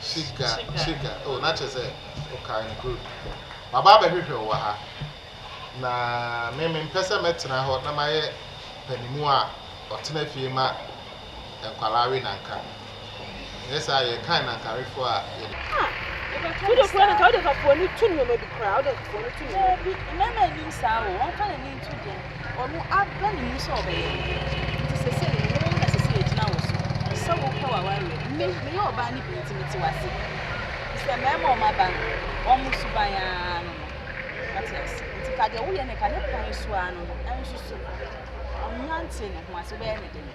Shiga, Shiga, oh na kyerɛ sɛ okae no good. Maba abɛhwehwɛ wo wɔ ha. Na me mempɛ sɛ mɛtena hɔ na mayɛ panimu a ɔtena fie ma nkwadaa we nanka. Nyɛ saa yɛ kan nankawefoɔ a yɛde. Ah, yɛbɛka no saa. Wode kura nankawefoɔ no tu nneɛma bi koraa, wode nankawefoɔ no tu nneɛma bi. Obi, mmarima anim saa o, wɔmfa n'ani nto deɛ. Wɔabɔ ne mu sɛ ɔbɛyɛ. Enti seesei wo na ɛsɛ sɛ yɛgyina wo so sɛ wopɛ w'awareɛ. Me, meyɛ ɔbaa no bi nti mete wo ase. Ɛfiri sɛ mmarima a wɔaba no, wɔn suban ara no no. Woate ase? Enti fa deɛ woyɛ no ka ne kwan so ara no no nsusu. Ɔnnante ne ho ase, wobɛyɛ no den.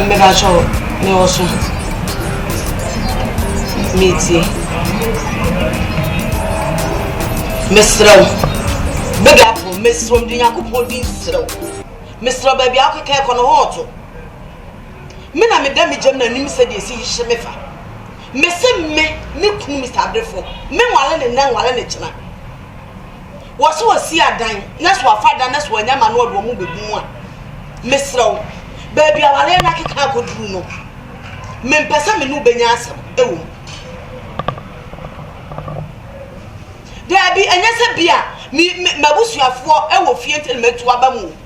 Mmebakyɛ wo, me wɔ so. Metie. Mesrɛ wo. Big apple, mesrɛ wo, mede Nyankopɔn din serɛ wo. Mesrɛ wo, baabi a wokeka ɛkɔ no hɔ ɔto. Me na meda me gyam n'anim sɛ deɛ ɛsi hye me fa. Mese me, me kunu Mr. Abrefo, me nwale ne nnɛ, nwale ne kyena. wɔse wɔsi adan na so wɔafa adan na so wɔanya ma no wɔde wɔn bɛgu mu a, mesrɛ wo, baabi awareɛ no akeka akɔduru no, mempɛ sɛ me ne wobɛnya asɛm ɛwɔ mu. Daabi, ɛnyɛ sɛ bi a m'abusuafoɔ ɛwɔ fie nti na matu aba mu o.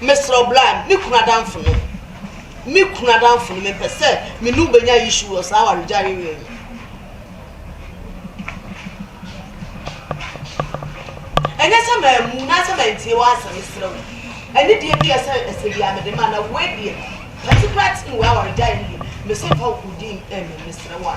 Mesrɛ wo bra me kunu adamfo no me kunu adamfo no mempɛ sɛ me ne wo bɛnya issue wɔ saa awaregyaeɛ wei ho. Ɛnyɛ sɛ mammu na sɛ mantie w'asɛm mesrɛ wo. Ɛne deɛ bi ɛsɛ ɛsɛ bi a mede ma na wei deɛ particular thing wei awaregyaeɛ no deɛ mese mfa wo din ɛmɛ mesrɛ wo a.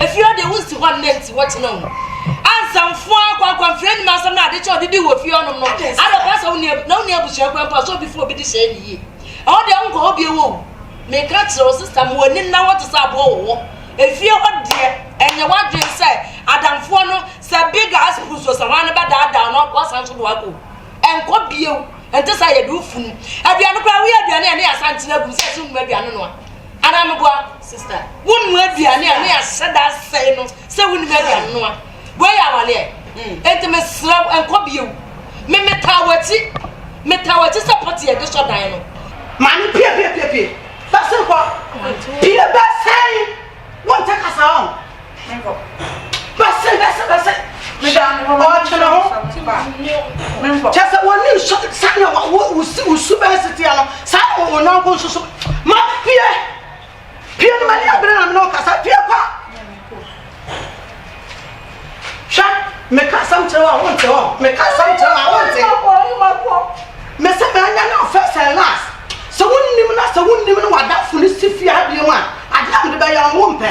Efie hɔ deɛ wonsi hɔ nnɛ nti wɔkyene wo ansa mfoa kwankwanfiri anim asɛm no ade kyɛ ɔde di wɔ fie hɔnom no ada ɔpɛ sɛ wonni na wonni abusua kwan mpo a sɛ obi fo obi de hyɛ ne yie ɛhɔ deɛ wonkɔ hɔ bio o meka kyerɛ wo sista ma w'ani nna hɔ te sɛ aboɔ wɔ hɔ efie hɔ deɛ ɛnyɛ w'adwene sɛ adamfoɔ no sɛ big ass puss o sɛ hwan no bɛdaadaa no wasan so de wakɔ ɛnkɔ bio ɛnte sɛ yɛde wo funu aduane koraa woyɛ aduane a ne yɛasan kyena agum sɛ ɛsɛ wonum aduane no a Anaa meboa sista wo nua aduane a ne yɛahyɛ da asɛe no sɛ wonim adi anoa wei yɛ awaleɛ hmm. enti mesrɛ wo ɛnkɔ bio me metaa w'akyi metaa w'akyi sɛ pɔte yɛde sɔ dan no maame pie pie pie pie bɛse nkɔ pie bɛsɛn wonte kasa ɔn bɛsɛ bɛsɛ bɛsɛ ɔtwene ho kyɛ sɛ wɔne nso sɛnea wosu bɛɛ seteɛ no saa na wɔwɔ nanko nso so ma pie pie no mani abere na mene ɔkasa pie kwa hwɛ meka asɛm kyerɛ wɔ a wonte hɔ meka asɛm kyerɛ wɔ a wonte mesɛ meanya no first and last sɛ wonnim na sɛ wonnim no wadafo no si fie adeɛ mu a adeɛ a mede bɛyɛ no wompɛ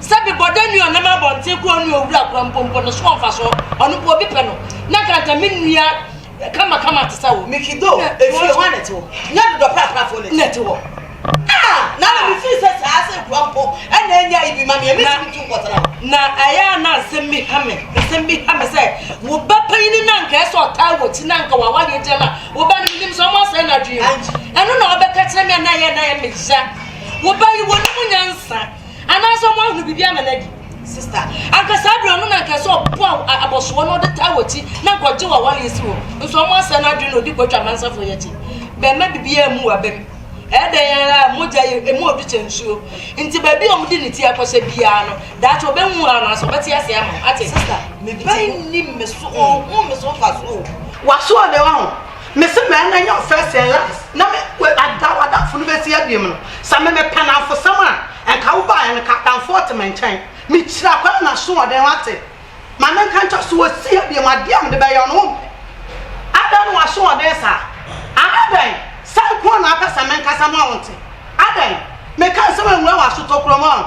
Sɛ mebɔ da nua ɔnam abɔnten kɔ ɔnua owura kura mpo mpo no so wɔ mfasoɔ ɔno mpo obi pɛ no na nka nka me nua kama kama te sɛ wo meki do efie hɔ a na ɛte hɔ nyɛ dodɔ praprafoɔ na ɛte hɔ ah na na mefiri sɛ saa sɛ kura mpo ɛna ɛnya ibi ma meɛ mesi metu nkɔtena hɔ na ɛyɛ a na nsɛm bi ha me nsɛm bi ha me sɛ wo ba panyini na nka ɛsɛ ɔtaa wɔ ti na nka wawadeɛ gyina na wo ba no menim sɛ ɔmo asɛe no adwene ɛno na ɔbɛka kyerɛ me a na ɛyɛ na ɛyɛ meya wo ba yi wɔ ne mu nyansa Anaasɛ ɔmo ahunu biribi ama no adi. Sista, anka saa bere no ɔno na anka ɛsɛ ɔpo abɔsoɔ na ɔde taa wɔakyi na anka ɔgye wɔ aware asi hɔ. Nso ɔmo asɛe no adwene na ɔdi kɔtwa amansafoɔ yi akyi. Bɛmma biribiara mmu w'abam. Ɛyɛ dɛn ara a, mogya yɛ emu ɔdɔ kyɛn nsuo. Nti baabi a ɔmo de ne ti akɔhyɛ biara no, daakye ɔbɛhu wo anaasɛ ɔbɛte ase ama wo. Ate? Sista, me ba yi nnim me so, ɔnhu me so mfasoɔ o. W'asoɔden, wahu? Me se mɛɛ na nyɛ wo first and last na me we ada w'adamfo no bɛsi abiem no sɛ me mepɛ namfosɛm a nka wo baeɛ no ka adamfoɔ te me nkyɛn me kyira kwan na soɔden wate ma me nka nkyɛ so wɔsi abiem adeɛ a mede bɛyɛ no wompɛ adɛn na w'asoɔden saa aa adɛn sɛ nkoa na apɛ sɛ me nkasa ma wo nte adɛn meka nsɛm anwura w'aso tokuro mu aa.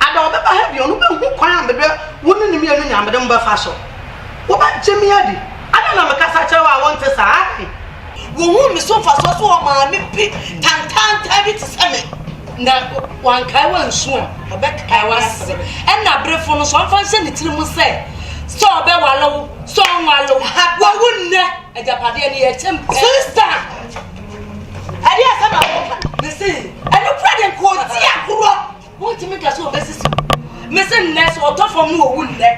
Ada ɔbɛba ha bio no, wobɛhu kwan a me ne wo ne no mmienu nyinaa mede mo bɛfa so. Wobɛgye me adi. Adɛn na mekasa kyerɛ wo a wonte saa? Adɛn? Wohuu me so mfasoɔ so wɔ maame bi tantaantan bi te sɛ me, na wankae wo ansu a, ɔbɛkae wo asere. Ɛna aberefo no nso, ɔmfa nhyɛ ne tiri mu sɛ, sɛ ɔbɛware wo, sɛ ɔnware wo, wawu nnɛ, agyapadeɛ no yɛkyem pɛ. Sista, ɛdeɛ asɛm a woka no, mese, ɛnokorɛ deɛ nka ɔte agorɔ. Wontumi nka sɛ wɔbɛsisi wo. Mese nnɛ sɛ ɔtɔ fam no owu nnɛ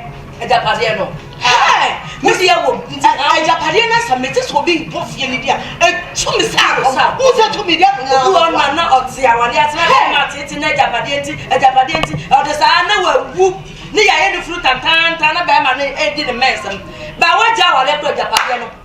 agyapadeɛ no. Hɛɛ! Me deɛ wom nti ha. Agyapadeɛ no asa mete sɛ obi ntɔ fie no bi a ɛtu me sa akɔ sa. Wo sɛ tumi deɛ to nyɛ. Obi wɔ na na ɔte awadeɛ ase na bɛrima ateete na agyapadeɛ nti agyapadeɛ nti ɔde saa na wawu ne yɛayɛ ne funu tantaantan na bɛrima no edi ne mɛnsɛm. Ba wagya awadeɛ kora agyapadeɛ no.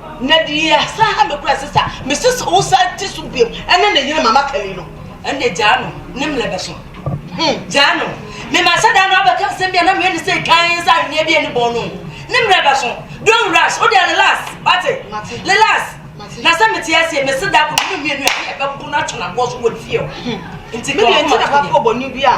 Na deɛ asan ha me koraa sɛ sa me se sɛ wo san te so biom ɛne ne yere mama kali no ɛne gyaa no ne mlɛ bɛ so hmm gyaa no me ma sɛ daa no abɛka nsɛm bia na me ɛne sɛ kan sɛ ahweneɛ bi ɛne bɔn no ne mlɛ bɛ so don't rush wo deɛ relax wate relax na sɛ mete aseɛ me se daa ko no mmienu ɛbɛbo no atwena boɔ so wɔ fie o nti me deɛ nti na bafo bɔ ne bi a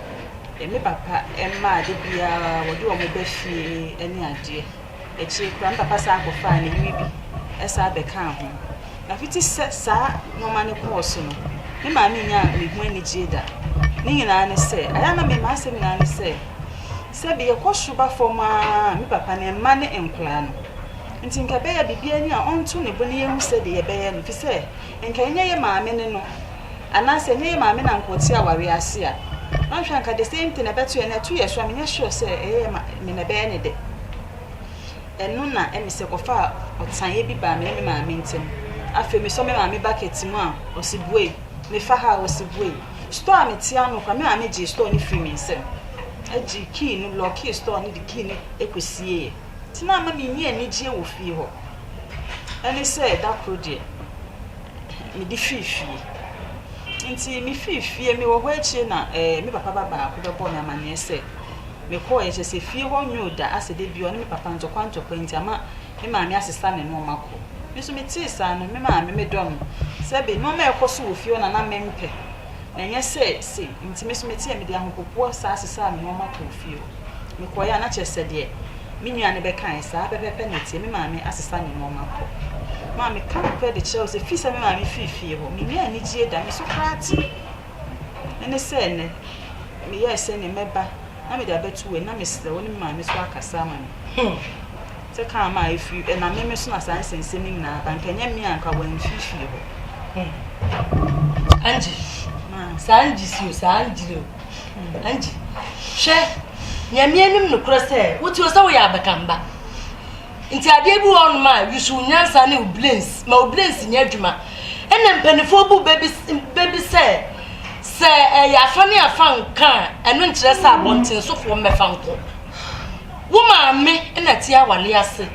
me papa mma a da biara wɔde wɔn ba fie ne adeɛ. Akyire koraa me papa san kɔfaa ne yere bi san bɛkaa ho. Na fiti sɛ saa nneɛma no kɔɔ so no, me maame nyaa me ho anigyeɛ da. Ne nyinaa ne sɛ, ɛyɛ a na me m'asɛm nyinaa ne sɛ, sɛbi yɛkɔ soro ba fam ara me papa no mma ne nkwadaa no. Nti nka ɛbɛyɛ a biribiara ni a ɔnto ne bo na yɛnhu sɛdeɛ yɛbɛyɛ no, ɛfiri sɛ nka ɛnyɛ yɛ maame ne no. Anaa sɛ ɛnyɛ yɛ maame na nka ɔte awareɛ ase a, ɔnhwɛ a nka the same thing na ɛbɛto yɛn. Na ɛto yɛn so a, menyɛ sure sɛ ɛyɛ yɛ ma me na ɛbɛyɛ ne dɛ. Ɛno na ɛne sɛ kɔfaa ɔteaeɛ bi baa me ne me maame ntam. Afei mesɔ me maame bucket mu a, ɔse buei. Mefa ha a, ɔse buei. Store a mete ano koraa, me maame gyee store no firii me nsam. Ɛgyee key no, lɔɔkee store no de key no kɔsieeɛ. Nti na ama mennya anigyeɛ wɔ fie hɔ. Ɛne sɛ da koro deɛ. mede firi fie. Nti mefiri fie, mewɔ hɔ akyire na eh, me papa ba baako bɛbɔɔ me amanneɛ sɛ mekɔɔeɛ kyɛ sɛ fie hɔ nyoo da asɛ da bi ɔne me papa ntɔkwa ntɔkwa nti ama me maame asesa ne nnoɔma kɔ. Me nso metee saa no, me maame medɔ no sɛbe nnoɔma ɛkɔ so wɔ fie hɔ na na mempɛ. na ɛnyɛ sɛ sei, nti me nso me teɛ mede ahopopoɔ saa sesaa me nwoma kɔɔ fie hɔ. Me kɔeɛ a na kyerɛ sɛ deɛ me nua no bɛkaeɛ saa pɛpɛpɛ na ɛteɛ, me maame asesa ne nwoma kɔ. Ma me ka no pɛ de kyerɛ wo sɛ firi sɛ me maame firi fie hɔ, me nyaa anigyie da, me so koraa te. Ɛne sɛ ɛnɛ, me yɛɛ sɛ ne mɛba na mede abɛto wei na mesrɛ wo ne me maame so akasa ama me. Hmm. Sɛ kaa ma efi ɛnam meme so na saa nsɛnsɛm yi nyinaa ba nka ɛnyɛ me a nka wamfi fie hɔ. Hmm. Angie. Ma. Saa Angie si o saa Angie o. Hmm. Angie. Hwɛ nyame anim nokorɛ sɛ wote o sɛ woyɛ abakamba nti adeɛ bi wɔ ɔnom a yusu nyansa ne obilens ma obilens nyɛ adwuma ɛna mpanimfoɔ bu bɛbi sɛ sɛ ɛyɛ afa ne afa nka ɛno nkyerɛ sɛ abɔntensofoɔ mmɛfa nkɔ Wo maame na ɛte awale ase.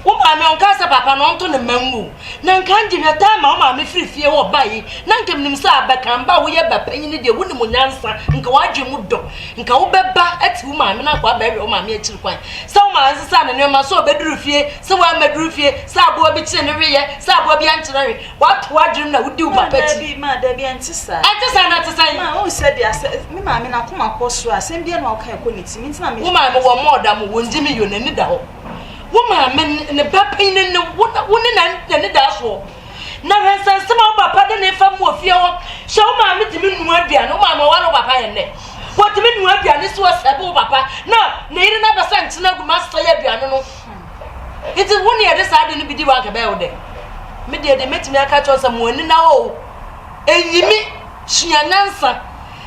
Wo maame ɔnkaa sɛ papa no ɔntɔ ne mma ngu. Na nka ngye hwɛ time ma wo maame firi fie hɔ baeɛ na nka menim sɛ abɛkamba a woyɛ ba panyin deɛ wonim wo nyansa nka w'adwene mu dɔ nka wobɛba ate wo maame na nka wabɛhwɛ wo maame akyiri kwan sɛ wo maame sesa ne nneɛma sɛ ɔbɛduru fie sɛ wammɛduru fie sɛ aboa bi kyerɛ ne hweyɛ sɛ aboa bi ankyerɛ hwe Woato w'adwenem na wodi wo papa akyi. Maa dabi, maa dabi, ɛnte saa. Ɛnte saa na ɛte sɛn? Maa wohu sɛ deɛ asɛ, me maame n'akoma kɔ soro a, asɛm biara na ɔka ɛkɔ ne tirim, nti na me. Wo maame wɔ mall da mo, wɔndi me yɔ, n'ani da hɔ. Wo maame ne, ne ba panyin no ne wo, na wo ne na, n'ani da soɔ. Na hwɛ nsɛnsɛm a wo papa de ne fa mu wɔ fie hɔ. Hyɛ wo maame tumi nua aduane, wo maame ɔware wo papa yɛn dɛ. Wɔtumi nua aduane si hɔ sɛbe wo papa, na ne yere no abɛsa nkyene agu ma asesa yɛ aduane no. Enti wo na yɛde saa ade no bi di wo anka ɛbɛyɛ wo dɛ? Me deɛ deɛ mɛtumi aka kyerɛ sɛ mo ani na o ɛnyimi sua nyansa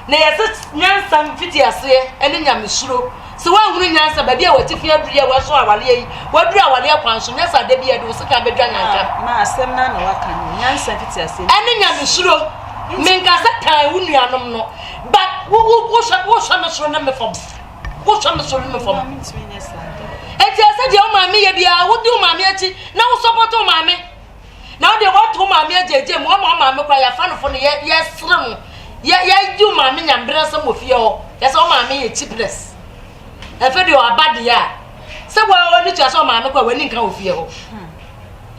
na yɛsɛ nyansa mfiti aseɛ ɛne nyamesuro sɛ woahunu nyansa baabi a watifi aduru yɛ wɔaso awareɛ yi waduru awareɛ kwan so nyɛ sɛ ada bi ɛde wo sika bɛdwa nyanka ma asɛm no na waka no nyansa mfiti aseɛ ɛne nyamesuro menka sɛ tan wo nuanom no but wohwɛ me soro ne me fam wohwɛ me so no fam enti ɛsɛ deɛ wo maame yɛ biara wodi wo maame akyi na wo sɔpɔto wo maame na wodeɛ woato wo maame agyagya mu ama wo maame kora yɛafa no fo no yɛsere no yɛdi wo maame nyamberɛ nsɛm wɔ fie hɔ yɛsɛ wo maame yɛ cheapness ɛfɛ deɛ ɔaba deɛ a sɛ wɔne tua sɛ wo maame kora w'ani nka wɔ fie hɔ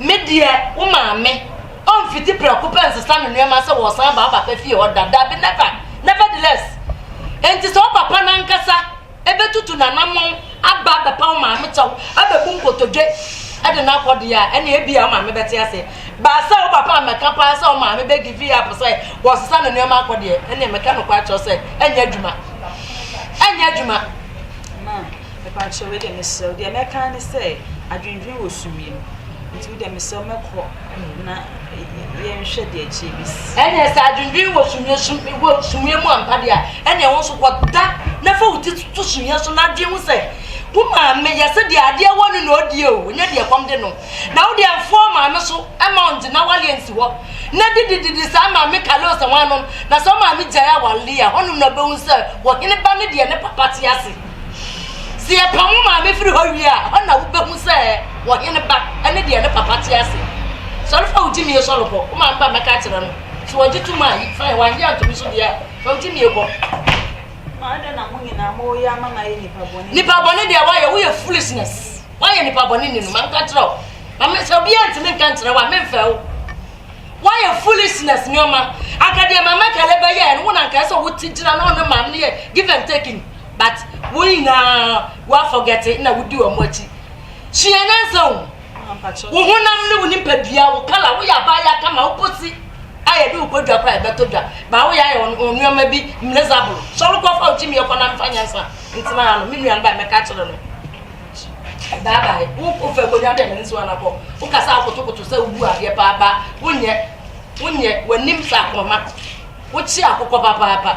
Me deɛ, wo maame, ɔmfiti prɛko pɛ nsesa no nneɛma sɛ wɔresan aba wo papa fie hɔ da, dabi, never, nevertheless, enti sɛ wo papa no ankasa bɛtutu n'anammɔn aba abɛpa wo maame kyɛw, abɛbu nkotodwe de no akɔ deɛ a, ɛnna ebia wo maame bɛte ase. But sɛ wo papa mmɛka paa sɛ wo maame bɛ give up sɛ wɔresesa no nneɛma akɔ deɛ, ɛnna meka nokware kyerɛ sɛ ɛnyɛ adwuma. Ɛnyɛ adwuma. Mepakyɛw, wei deɛ mesrɛ wo, deɛ mɛka ara ne sɛ, adwendwen wɔ sumiiɛ mu, nti wo deɛ mesrɛ wo mɛkɔ na yɛnhwɛ deɛ ɛkyeɛ bɛsi. Ɛnneɛ sɛ adwendwen wɔ sumiiɛ sum wɔ sumiiɛ mu ampa deɛ a, ɛnneɛ wo nso kɔda na fa wo ti to sumiiɛ so na dwen ho sɛ, wo maame yɛ sɛ deɛ adeɛ wɔ no na ɔdi o, nyɛ deɛ ɛkɔm de no. Na wo deɛ mfa wo maame so mma wo nte n'awareɛ nsi hɔ na didididi saa maame Carlos ho anom, na sɛ wo maame gyae awareɛ a, hɔnom na wobɛhu sɛ ɔhene ba ne deɛ ne papa te ase. Sɛ yɛpam wo maame firi hɔ wie a, ɛhɔ na wobɛhu sɛ ɔhene ba ne deɛ ne papa te ase. Sɔre fa wo gyimie sɔre kɔ, wo maame ba mmɛka akyerɛ no. Sɛ wɔgye tom a, fine, wɔagye antom nso deɛ a, fa wo gyimie kɔ. Nipa bɔne deɛ woayɛ, woyɛ foolishness. Woayɛ nipa bɔne ni no, manka kyerɛ wo. Mame sɛ obiara ntumi nka nkyerɛ wo a, memfɛ wo. Woayɛ foolishness nneɛma. Anka deɛ mama kale bɛyɛɛ no, wo na anka ɛsɛ sɛ wote gyina na ɔne maame no yɛ give and take ni. but wo nyinaa wa forget na wodi wɔn akyi sua nyansa o wo honam ne wo nipadua wo kala woyɛ abaayɛ kama wokosi a yɛde wo kɔdwa kora yɛbɛtɔ dwa baa woyɛ ayɛ wo nneɛma bi mmerezaboro sɔre kɔfa wo gyimiɛ kɔ na mfa nyansa ntena ha no me nua no ba mɛka kyerɛ no bye bye wo kɔfa akonnwa dɛ mene nso anakɔ wokasa akotokoto sɛ wobu adeɛ paapa wonyɛ wonyɛ w'anim sɛ akɔma wokye akokɔ papaapa